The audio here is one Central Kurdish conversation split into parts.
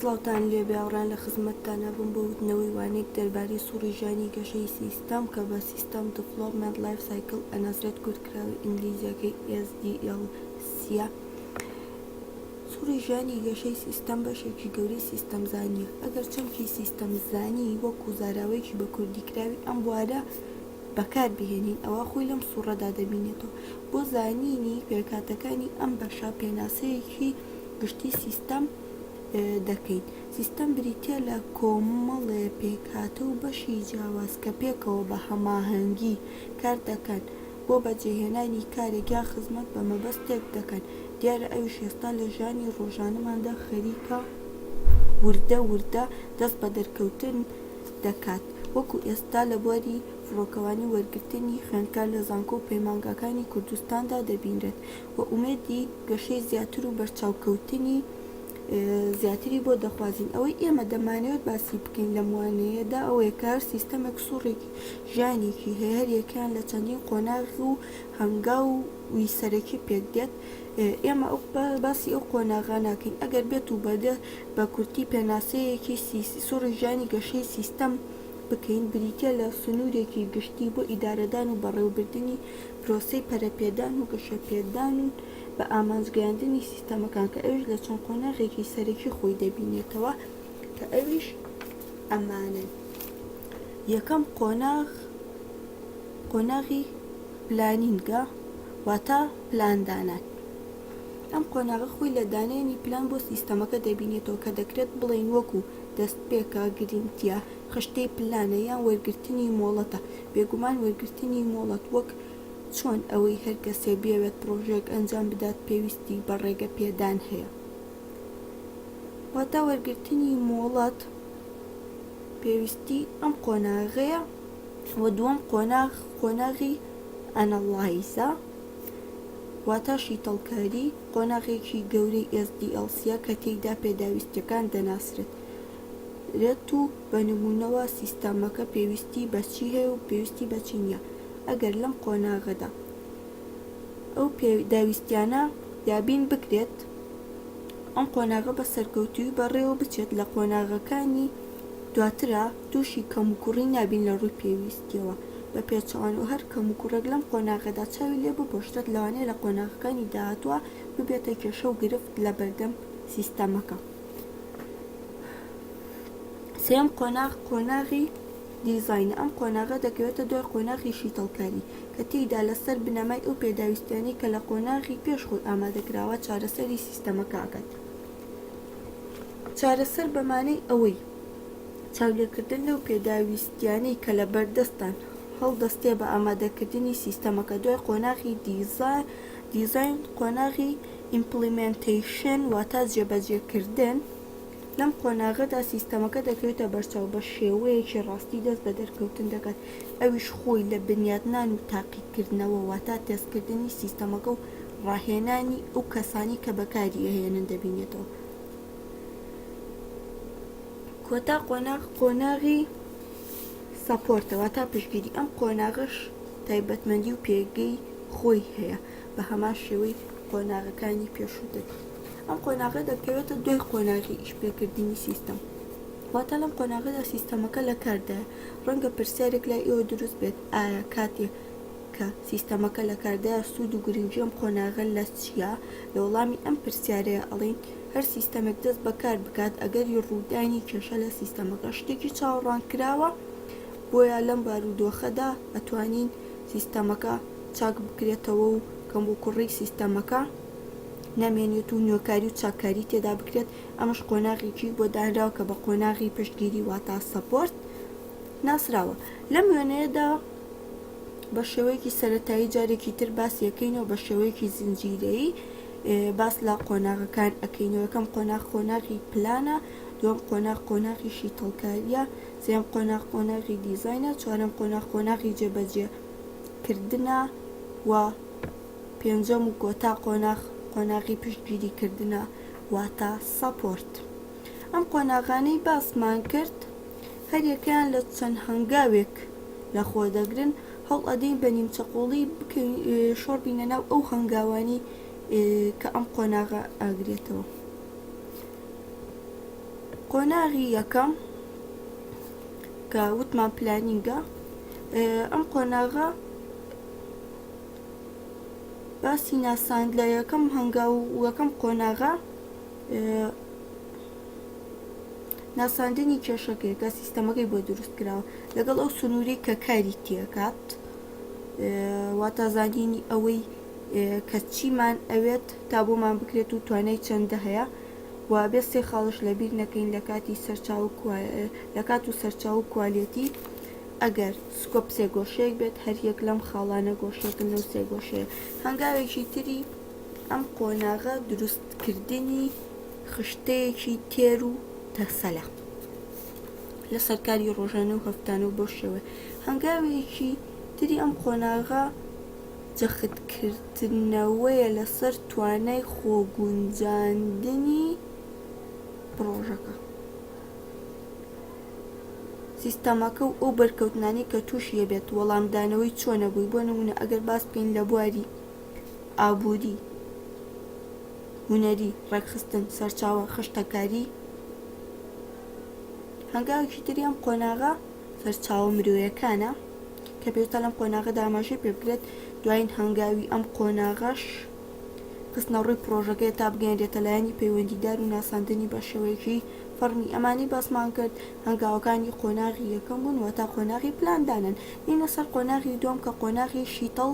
سڵاوتان لێ بێ هاوڕێیان لە خزمەتتانە بم بۆ وتنەوەی وانەیەک دەربارەی سوڕی ژانی گەشەی سیستەم کە بە سیستەم دڤڵۆپمێنت لایف سایکڵ ئەناسرێت کورتکراوەی ئینگلیزییەکەی SDLC ە سوڕی ژانی گەشەی سیستەم بەشێکی گەورەی سیستەمزانییە ئەگەر چەمکی سیستەمزانی وەکو زاراوەیەکی بە کوردیکراوی ئەم بوارە بەکار بهێنین ئەوا خۆی لەم سوڕەدا دەبینێتەوە. بۆ زانینی پێکهاتەکانی ئەم بەشە پێناسەیەکی گشتی سیستەم دەکەین. سیستەم بریتیە لە کۆمەڵێ پێکهاتە و بەشی جیاواز کە پێکەوە بە هەماهەنگی کار دەکەن بۆ بەجێهێنانی کارێک یان خزمەت بە مەبەستێک دەکەن دیارە ئەویش ئێستا لە ژیانی ڕۆژانەماندا خەریکە وردە وردە دەست بە دەرکەوتن دەکات، وەکو ئێستا لە بواری فڕۆکەوانی وەرگرتنی خوێندکار لە زانکۆ و پەیمانگاکانی کوردستاندا دەبینرێت و ئومێدی گەشەی زیاتر و بەرچاوکەوتنی زیاتری بۆ دەخوازین، ئەوەی ئێمە دەمانەوێت باسی بکەین لەم وانەیەدا ئەوەیە کە هەر سیستەمێک سوڕێکی ژیانێکی هەیە هەر یەکەیان لە چەندین قۆناغ و هەنگاو. وی سەرەکی پێک دێت. ئێمە باسی ئەو قۆناغە ناکەین. ئەگەر بێت و بە بە کورتی پێناسەیەکی سوڕی ژانی گەشەی سیستەم بکەین، بریتییە لە سنوورێکی گشتی بۆ ئیدارەدان و بەڕێوەبردنی پرۆسەی پەرەپێدان و گەشەپێدان و بە ئامانجگەیاندنی سیستەمەکان کە ئەویش لە چەند قۆناغێکی سەرەکی خۆی دەبینێتەوە کە ئەویش ئەمانەن، یەکەم قۆناغ، قۆناغی پلانینگە واتە پلان دانان ئەم قۆناغە خۆی لە دانێنی پلان بۆ سیستەمەکە دەبینێتەوە کە دەکرێت بڵێین وەکو دەستپێکە گرنگتیە خشتەی پلانە یان وەرگرتنی مۆڵەتە بێگومان وەرگرتنی مۆڵەت وەک چۆن ئەوەی هەر کەسێ بیەوێت پڕۆژەیەک ئەنجام بدات پێویستی بە ڕێگە پێدان هەیە واتە وەرگرتنی مۆڵەت پێویستی ئەم قۆناغەیە. و دووەم قۆناغ قۆناغی ئەنەڵایزە واتە شیتەڵکاری قۆناغێکی گەورەی SDLC ە کە تێیدا پێداویستیەکان دەناسرێت رێت و بە نمونەوە سیستەمەکە پێویستی بە چی هەیە و پێویستی بە چی نییە ئەگەر لەم قۆناغەدا ئەو پێداویستیانە دابین بکرێت ئەم قۆناغە بە سەرکەوتووی بەڕێوە بچێت لە قۆناغەکانی دواترا تووشی کەموکوڕی نابین لە ڕووی پێویستییەوە بە پێچەوانەوە و هەر کەموکوڕێک لەم قۆناغەدا چاوی لێ بپۆشرێت لەوانەیە لە قۆناغەکانی داهاتووە ببێتە کێشە و گرفت لە بەردەم سیستەمەکە. سێیەم قۆناغ قۆناغی دیزاینە، ئەم قۆناغە دەکەوێتە دوای قۆناغی شیتەڵکاری کە تێیدا لە سەر بنەمای ئەو پێداویستیانەی کە لە قۆناغی پێش خۆی ئامادە کراوە چارەسەری سیستەمەکە ئەکات. چارەسەر بەمانەی ئەوەی. چاولێکردن لەو پێداویستییانەی کە لە بەردەستتان هەڵدەستێ بە ئامادەکردنی سیستەمەکە دوای قۆناغی دیزاین، قۆناغی ئیمپڵیمێنتەیشن واتە جێبەجێکردن، لەم قۆناغەدا سیستەمەکە دەکەوێتە بەرچاو بە شێوەیەکی ڕاستی دەست بە دەرکەوتن دەکات ئەویش خۆی لە بنیاتنان و تاقیکردنەوە واتە تێستکردنی سیستەمەکە و ڕاهێنانی ئەو کەسانەی کە بەکاری ئەهێنن دەبینێتەوە. کۆتا قۆناغ قۆناغی سەپۆرتە واتا پشتگیری ئەم قۆناغەش تایبەتمەندی و پێگەی خۆی هەیە بە هەمان شێوەی قۆناغەکانی پێشووتر ئەم قۆناغە دەکەوێتە دوای قۆناغی ئیشپێکردنی سیستم واتا لەم قۆناغەدا سیستەمەکە لە کاردایە ڕەنگە پرسیارێک لای ئێوە دروست بێت ئایا کاتێ کە سیستەمەکە لە کاردایە سوود و گرنگی ئەم قۆناغە لە چیە؟ لە وەڵامی ئەم پرسیارەیە ئەڵێین هەر سیستەمێک دەست بە کار بکات ئەگەری ڕوودانی کێشە لە سیستەمەکە شتێکی چاوەڕوان کراوە بۆیە لەم بارودۆخەدا ئەتوانین سیستەمەکە چاک بکرێتەوە و کەم و کوڕی سیستەمەکە نەمێنێت و نوێکاری و چاککاری تێدا بکرێت ئەمەش قۆناغێکی بۆ دانراوە کە بە قۆناغی پشتگیری واتا سەپۆرت ناسراوە. لەم وێنەیەدا بە شێوەیەکی سەرەتایی جارێکی تر باسی ئەکەینەوە بە شێوەیەکی زنجیرەیی باس لە قۆناغەکان ئەکەینەوە یەکەم قۆناغ قۆناغی پلانە دووەم قۆناغ قۆناغی شیتەڵکاریە سێم قۆناغ قۆناغی دیزاینە چوارەم قۆناغ قۆناغی جێبەجێ کردنە و پێنجەم و کۆتا قۆناغ قۆناغی پشتگیری کردنە واتە سەپۆرت ئەم قۆناغانەی باسمان کرد هەریەکەیان لە چەند هەنگاوێک لە خۆ دەگرن، هەوڵ ئەدەین بە نیمچە قۆڵی بکەین شۆڕ بینە ناو ئەو هەنگاوانەی کە ئەم قۆناغە ئەگرێتەوە. قۆناغی یەکەم کە وتمان پلانینگە، ئەم قۆناغە باسی ناساند لە یەکەم هەنگاو و یەکەم قۆناغە ناساندنی کێشەکەیەکە سیستەمەکەی بۆ دروست کراوە لەگەڵ ئەو سنووری کە کاری تێکات واتا زانینی ئەوەی کە چیمان ئەوێت تا بۆمان بکرێت و توانای چەندە هەیە و بێ سێ خاڵش لەبیر نەکەین لە کاتی سەرچاو لە کات و سەرچاو و کوالەتی ئەگەر سکۆپ سێ گۆشەیەک بێت هەر یەک لەم خاڵانە گۆشەکە لەو سێ گۆشەیە هەنگاوێکی تری ئەم قۆناغە دروست کردنی خشتەیەکی تێر و تەسەلە لەسەر کاری ڕۆژانە و هەفتانە و بەو شێوە هەنگاوێکی تری ئەم قۆناغە جەختکردنەوەیە لەسەر توانای خۆگونجاندنی پڕۆژەکە و سیستەمەکە و ئەو بەرکەوتنانەی کە تووشی ئەبێت وەڵامدانەوەی چۆنە بووی بۆ نموونە ئەگەر باس بکەین لە بواری ئابووری، هونەری، ڕێکخستن، سەرچاوە، خشتەکاری، هەنگاوێکی تری ئەم قۆناغە سەرچاوە مرۆیەکانە کە پێشتا لەم قۆناغەدا ئاماژەی پێ بکرێت دوایین هەنگاوی ئەم قۆناغەش خستنە ڕووی پرۆژەکە تا بگەێنرێتە لایەنی پەیوەندیدار و ناساندنی بە شێوەیەکی فەرمی ئەمانی باسمان کرد هەنگاوەکانی قۆناغی یەکەم بوون و تا قۆناغی پلاندانن دینە سەر قۆناغی دوم کە قۆناغی شیتەڵ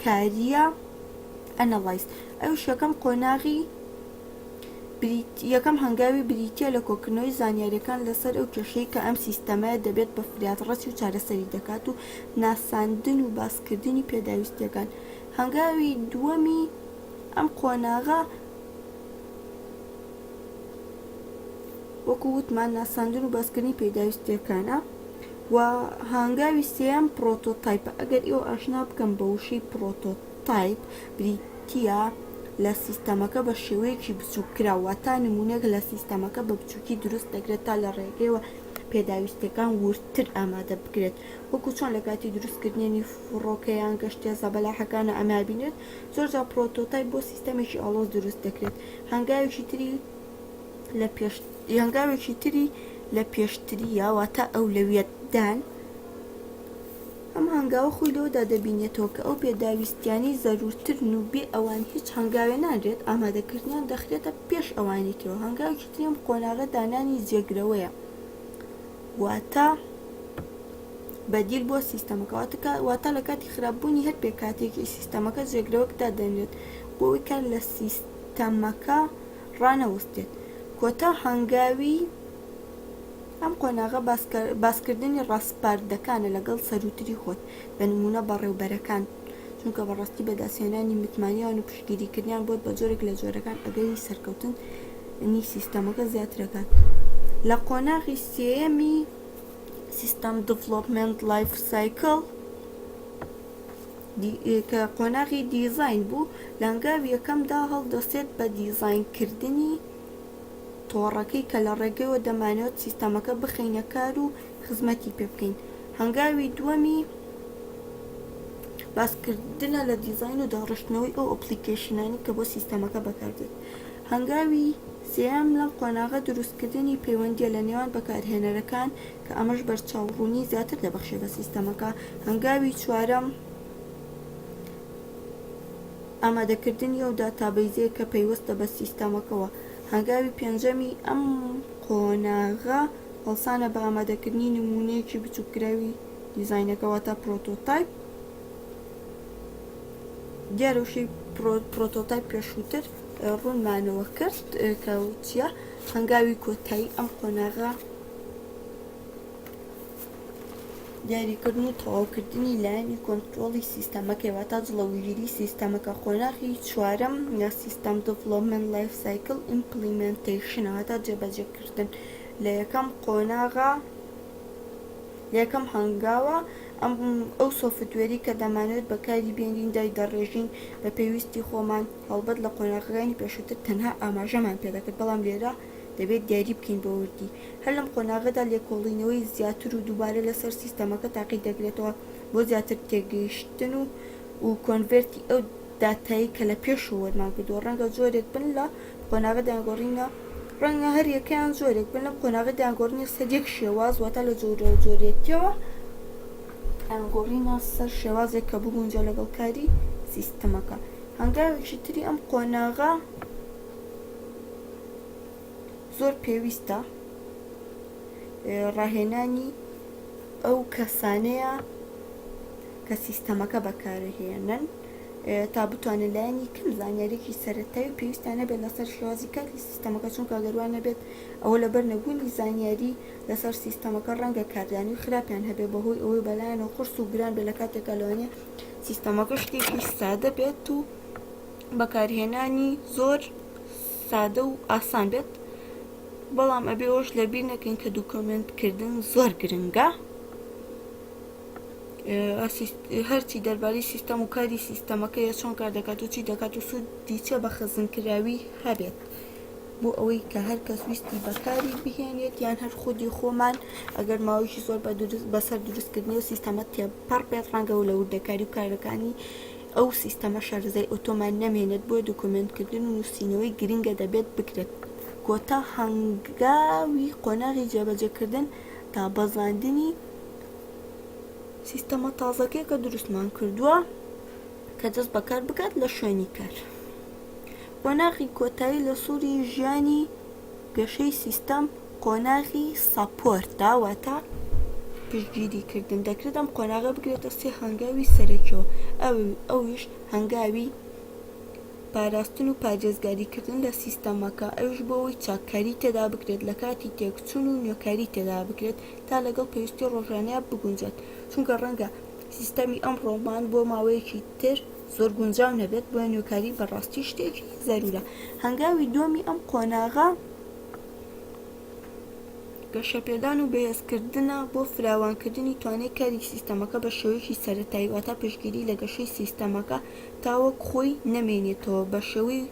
کارییە Analyze ئەویش یەکەم قۆناغی بریتییە یەکەم هەنگاوی بریتییە لە کۆکردنەوەی زانیارییەکان لەسەر ئەو کێشەی کە ئەم سیستەمەیە دەبێت بە فرات ڕەچی و چارەسەری دەکات و ناساندن و باسکردنی پێداویستییەکان هەنگاوی دووەمی ئەم قۆناغە وەکو وتمان ناساندن و باسکردنی پێداویستیەکانە. و هانگاوی سێیەم پرۆتۆتایپە ئەگەر ئێوە ئاشنا بکەم بە وشەی پرۆتۆتایپ بریتیە لە سیستەمەکە بە شێوەیەکی بچوک کراو واتا نمونەێک لە سیستەمەکە بە بچوکی دروست دەکرێت تا لە ڕێگەیەوە پێداویستیەکان وردتر ئامادە بکرێت وەکو چۆن لە کاتی دروست کردنی فڕۆکە یان گەشتیە زەبەلاحەکانە ئەمابینێت زۆرجار پرۆتۆتایپ بۆ سیستەمێکی ئاڵۆز دروست دەکرێت هەنگاوێکی تری لە پێش هەنگاوێکی تری لە پێشتریە واتە ئەولەویەت دان ئەم هەنگاوە خۆی لەوەدا دەبینێتەوە کە ئەو پێداویستیانی زەرورترن و بێ ئەوان هیچ هەنگاوێ نادرێت ئامادەکردنیان دەخرێتە پێش ئەوانی ترەوە هەنگاوێکی تریم قۆناغە دانانی جێگرەوەیە واتە بەدیل بۆ سیستەمەکە واتە واتە لە کاتی خراپبوونی هەر پێکاتێکی سیستەمەکە جێگرەوەک دادەنرێت بۆ ئەوی کار لە سیستەمەکە ڕانەوەستێت کۆتا هەنگاوی ئەم قۆناغە باسکردنی ڕاسپاردەکانە لەگەڵ سەرووتری خۆت بە نموونە بەڕێوبەرەکان چونکە بەڕاستی بەدەستهێنانی متمانیان و پشتگیریکردنیان بۆت بە جۆرێک لە جۆرەکان ئەگەری سەرکەوتنی سیستەمەکە زیاترەکات لە قۆناغی سێیەمی سیستەم دڤڵۆپمێنت لایف سایکڵ کە قۆناغی دیزاین بوو لە هەنگاوی یەکەمدا هەڵدەسێت بە دیزاینکردنی تۆڕەکەی کە لە ڕێگەیەوە دەمانەوێت سیستەمەکە بخەینە کار و خزمەتی پێ بکەین. هەنگاوی دووەمی باسکردنە لە دیزاین و داڕشتنەوەی ئەو ئەپڵیکەیشنانەی کە بۆ سیستەمەکە بەکاردێت. هەنگاوی سێیەم لەم قۆناغە دروستکردنی پەیوەندییە لە نێوان بەکارهێنەرەکان کە ئەمەش بەرچاوڕوونی زیاتر دەبەخشێت بە سیستەمەکە. هەنگاوی چوارەم ئامادەکردنی ئەو داتابەیزەیە کە پەیوەستە بە سیستەمەکەوە. هەنگاوی پێنجەمی ئەم قۆناغە. هەڵسانە بە ئامادەکردنی نموونەیەکی بچووککراوی دیزاینەکە واتا پرۆتۆتایپ. دیارە وشەی پرۆتۆتایپ پێشووتر ڕوونمانەوە کرد کە چییە هەنگاوی کۆتایی ئەم قۆناغە دیاریکردن و تەواوکردنی لایەنی کۆنتترۆڵی سیستەمەکەی واتا جڵەوگیری سیستەمەکە قۆناغی چوارم یا سیستەم دڤڵۆمن لایف سایکل ئیمپلیمنتیشنەوە تا جێبەجێکردن لە یەکەم قۆناغە، لە یەکەم هەنگاوە، ئەم ئەو سۆفتوێری کە دەمانەوێت بەکاری بێنین دایدەڕێژین بە پێویستی خۆمان، هەڵبەت لە قۆناغەکانی پێشووتر تەنها ئاماژەمان پێ دەکرد، بەڵام لێرە دەبێت دیاری بکەین بە وردی. هەر لەم قۆناغەدا لێکۆڵینەوەی زیاتر و دووبارە لەسەر سیستەمەکە تاقی دەکرێتەوە بۆ زیاتر تێگەیشتن و کۆنڤێرتی ئەو داتایەی کە لە پێشەوە وەرمان گرتووە، ڕەنگە جۆرێک بن لە. قۆناغی دایەنگۆڕینە، ڕەنگە هەر یەکەیان جۆرێک بن لەم قۆناغی دایەنگۆڕینە سەر یەک شێواز واتە لە جۆرە جۆریەتیەوە دایەنگۆڕینە سەر شێوازێک کە بگونجێ لەگەڵ کاری سیستمەکە هەنگاوێکی تری ئەم قۆناغە زۆر پێویستە ڕاهێنانی ئەو کەسانەیە کە سیستەمەکە بەکارهێنن تا بتوانێت لایەنی کەم زانیاریەکی سەرەتایی و پێویستیان هەبێت لەسەر شێوازی کاری سیستەمەکە چونکە گەر وا نەبێت ئەوە لەبەر نەبوونی زانیاری لەسەر سیستەمەکە ڕەنگە کاردانەوەی خراپیان هەبێت بەهۆی ئەوەی بەلایانەوە قورس و گران بێت لە کاتێکا لەوانەیە سیستەمەکە شتێکی سادە بێت و بەکارهێنانی زۆر سادە و ئاسان بێت بەڵام ئەبێ ئەوش لەبیر نەکەین کە دوکۆمنتکردن زۆر گرنگە هەرچی دەربارەی سیستەم و کاری سیستەمەکەیە چۆن کار دەکات و چی دەکات و سوودی چە بە خزمکراوی هەبێت بۆ ئەوەی کە هەر کەس ویستی بەکاری بهێنێت یان هەر خودی خۆمان ئەگەر ماوەیەکی زۆر بە دروست بەسەر دروستکردنی و سیستەمە تێپەڕ بێت ڕەنگە و لە وردەکاری و کارەکانی ئەو سیستەمە شارزای ئۆتۆمان نەمێنێت بۆ دوکمنتکردن و نووسینەوەی گرنگە دەبێت بکرێت کۆتا هەنگاوی قۆناغی جێبەجێکردن تا بەزاندنی سیستەمە تازەکەی کە دروستمان کردووە کە دەست بەکار بکات لە شوێنی کار قۆناغی کۆتایی لە سووری ژیانی گەشەی سیستەم قۆناغی ساپۆرتدا واتە پشتگیریکردن دەکرێت ئەم قۆناغە بگرێتە سێ هەنگاوی سەرەکیەوە ئەویش هەنگاوی پاراستن و پارێزگاریکردن لە سیستەمەکە ئەوش بۆەوەی چاککاری تێدا بکرێت لە کاتی تێکچون و نوێکاری تێدا بکرێت تا لەگەڵ پێویستی ڕۆژانەیان بگونجێت، چونکە ڕەنگە سیستەمی ئەمڕۆمان بۆ ماوەیەکی تر زۆر گونجاو نەبێت، بۆیە نوێکاری بەڕاستی شتێکی زەروورە. هەنگاوی دووەمی ئەم قۆناغە، گەشەپێدان و بەهێزکردنە بۆ فراوانکردنی توانای کاری سیستەمەکە بە شێوەیەکی سەرەتایی، واتە پشتگیری لە گەشەی سیستەمەکە تاوەک خۆی نەمێنێتەوە، بەشێوەی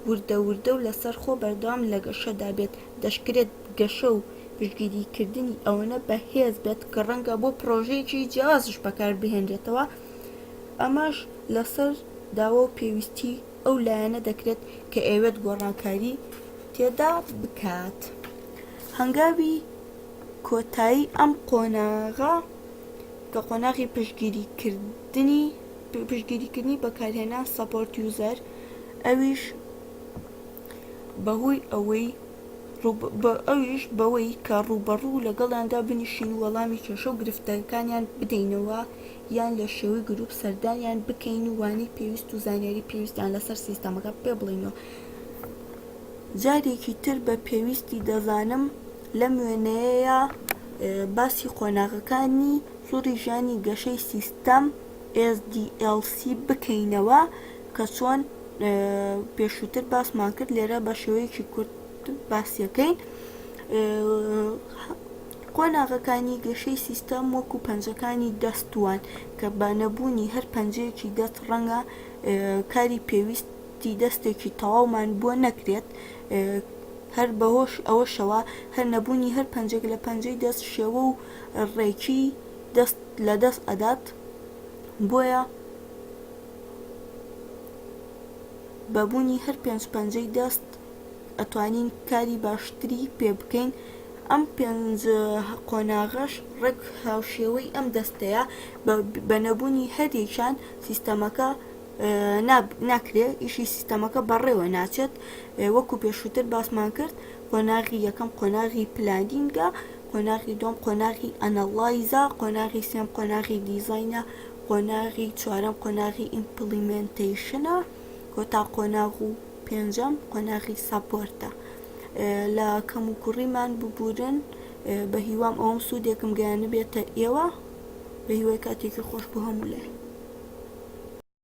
وردە وردە و لەسەرخۆ بەردەوام لە گەشەدا بێت. دەشکرێت گەشە و پشتگیریکردنی ئەوەنە بەهێز بێت کە ڕەنگە بۆ پڕۆژەیەکی جیاوازیش بەکاربهێنرێتەوە، ئەمەش لەسەر داوا و پێویستیی ئەو لایەنە دەکرێت کە ئەیەوێت گۆڕانکاری تێدا بکات. هەنگاوی کۆتایی ئەم قۆناغە کە قۆناغی پشتگیریکردنی پشتگیریکردنی بەکارهێنان، Support User، ە، ئەویش. بەهۆی ئەوەی ئەویش بەوەی کە ڕووبەڕوو لەگەڵیاندا بنیشین و وەڵامی کێشە و گرفتەکانیان بدەینەوە یان لە شێوەی گروپ سەردانیان بکەین و وانەی پێویست و زانیاری پێویستیان لەسەر سیستەمەکە پێ بڵێین و جارێکی تر بە پێویستی دەزانم لەم وێنەیەیا باسی قۆناغەکانی سوڕی ژانی گەشەی سیستەم SDLC بکەینەوە کە چۆن پێشووتر باسمان کرد لێرە بە شێوەیەکی کورت باسیەکەین قۆناغەکانی گەشەی سیستەم وەکو پەنجەکانی دەستوان کە بە نەبوونی هەر پەنجەیەکی دەست ڕەنگە کاری پێویستی دەستێکی تەواومان بۆ نەکرێت هەر بەهۆش ئەوەشەوە هەر نەبوونی هەر پەنجێک لە پەنجەی دەست شێوە و ڕێکی دەست لە دەست ئەدات بۆیە بە بونی هەر پێنج پەنجەی دەست ئەتوانین کاری باشتری پێ بکەین ئەم پێنج قۆناغەش ڕێک هاوشێوەی ئەم دەستەیە بە نەبونی هەریەکیان سیستەمەکە ناکرێ ئیشی سیستەمەکە بەڕێوە ناچێت وەکو پێشوتر باسمان کرد قۆناغی یەکەم قۆناغی پلانینگە قۆناغی دوم قۆناغی ئەنەڵایزە قۆناغی سێم قۆناغی دیزاینە قۆناغی چوارەم قۆناغی ئیمپڵیمێنتەیشنە و تا قۆناغ و پێنجەم قۆناغی ساپۆرتە لە کەموکوڕیمان ببورن بە هیوام ئەوم سوودێکم گەیانبێتە ئێوە بە هیوای کاتێکی خۆش بۆ هەموو لای